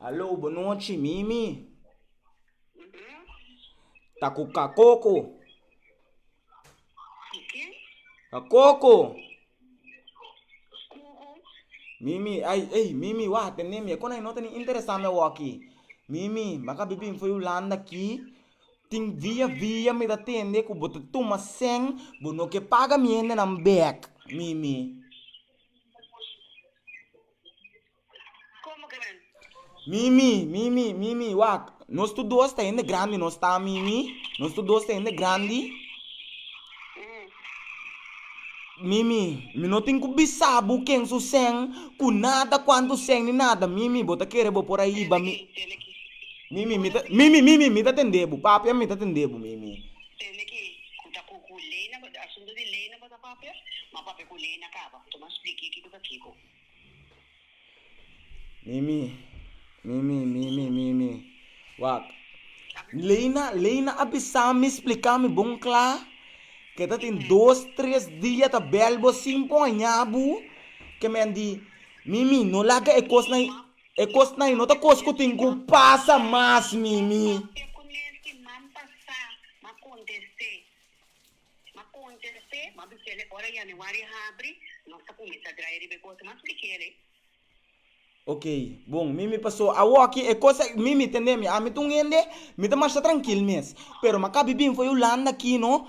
Aló, bo nochi, Mimi. Ta ku ka koko. Ka koko. Mimi, ay, ay, Mimi, wak atende'm. E konai no ta ni interesá me wòkkie. Mimi, maka bibí fo'i Hulanda akí. Tin via via mi ta tende ku bo ta tuma sèn, bo no ke paga mi hendenan bèk, Mimi. Mimi, Mimi, Mimi, wak, nos tur dos ta hende grandi nos ta, Mimi, nos tur dos ta hende grandi, Mimi, mi no tin ku bisa bo ken su sèn, ku nada, kuantu sèn ni nada, Mimi, bo ta kere bo por a hiba mi. Mimi, mi ta, Mimi, Mimi, mi ta tendé bo, papia, mi ta tendé bo, Mimi. Tende ki ku ta ku ku lei na bo, asuntu di lei na bo ta papia, ma papia ku lei na kaba, tuma spliki kiko ta kiko. Mimi, Mimi, Mimi, Mimi, wak, lei na, lei na a bisa mi, splika mi bon kla, ke ta tin dos, tres dia ta bèl bo sin por haña bo, ke men di, Mimi, no laga e kos na. E kosnan ei no ta kos ku tin ku pasa mas, Mimi. Ok, bon, Mimi pasó. Awoki e kos ei, Mimi, tendé mi, ami ta un hende, mi ta marsha trankil mes. Pero mi a kabi bin for Hulanda akí no,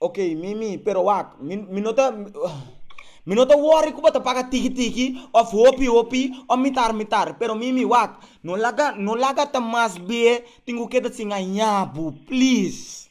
Ok, mi, mi, pero wak, mi, mi no ta, mi no ta worry ku bo ta paga tiki tiki òf hopi hopi òf mitar mitar, pero mi, mi, wak, no laga, no laga ta mas b'e tin ku keda sin haña bo, please.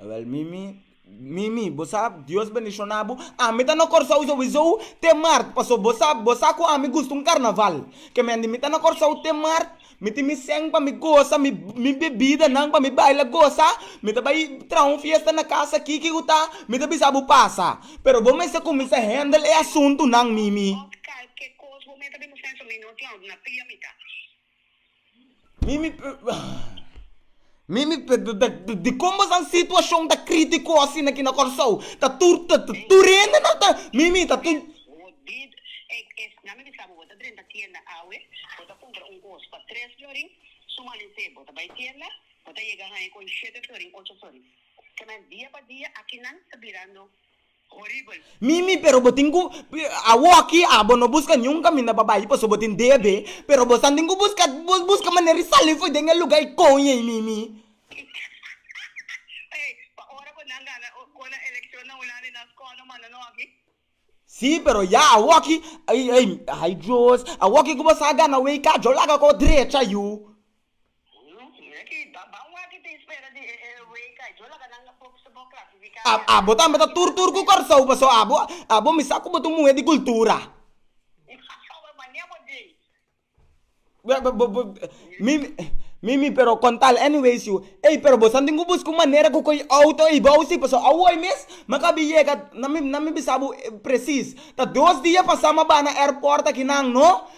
Awel mimi mimi bo sa Dios bendiciona bo ami ta na Kòrsou so wi sou te mart paso bo sa bo sa ku ami gusta un karnaval kemende mi ta na Kòrsou te mart mi tin mi sèn pa mi gosa mi mi bebidanan pa mi baila gosa mi ta bai traha un fiesta na kasa kiki ku ta mi ta bisa bo pasa pero bo mester kuminsá hèndel e asuntunan mimi. Ot kal ke kos bo mester bin mo sèn so mi no tin a na pia mi ta. Dikon bo sa situacion ta critico asina aki na Kòrsou? Ta tur hende nan ta mimi ta tur. Mimi, pero bo tin ku, awoki abo no buska niun kaminda pa bai paso bo tin debe, pero bo san tin ku buska, bo buska manera di sali fo'i den e luga ei koño ei Mimi. Si, pero ya awoki, ai, ai, ai Dios, awoki ku bo sa gana wei ka yo laga k'o drecha yu. Abo tambe ta tur tur ku Kòrsou paso abo abo mi sa ku bo ta un muhé di kultura. Mi mi pero kontal anyway su ey pero bo santin ku buska un manera ku koy outo ey bou si paso awoy mes mi a bin yega na mi na mi bisa bo presis ta dos dia pasá mi a bai na airport aki nan no.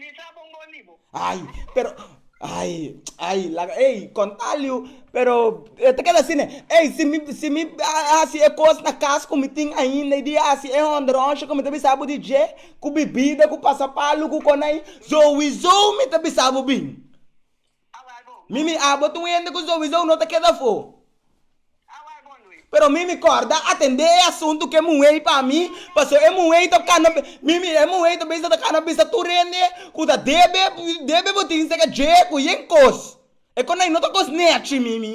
Mi sa bon bo libo. Ay, pero, ay, ay, laga, ey, contaliu, pero e ta keda asine, ey, si mi, si mi a hasi e cos na cas cu mi tin ainda y di hasi e honderoncia cu mi ta bisa bo di dje, cu bibida, cu pasapalu, cu con ay, souizo mi ta bisa bo bin. Mi mi abo ta un hende ku sowisou no ta keda afó. Pero mi mi kòrda atendé e asuntu ku e muhé ei pa mi, pasobra e muhé ei ta kana, mi mira e muhé ei ta bisa ta kana bisa tur hende ku ta debe, debe bo tin sega dje ku yen kos. E kos ei no ta kos nèchi, mi mi.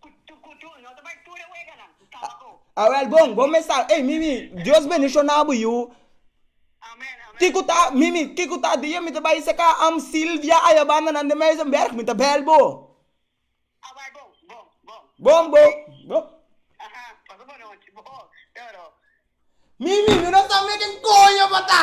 Cutucutu, no ta bay tur e weganan, caba bo. A wel bon, bon mensahe. Ey Mimi, Dios bendiciona bo yu. Amen, amen. Kico ta, Mimi, kico ta dia mi ta bay saka am Silvia ay a banda nan den Muizenberg, mi ta bel bo. A bay bon, bon, bon. Bon bo, bon. Aha, pasa bo nochi, bo, toro. Mimi, mi no sa me ken coño pa ta.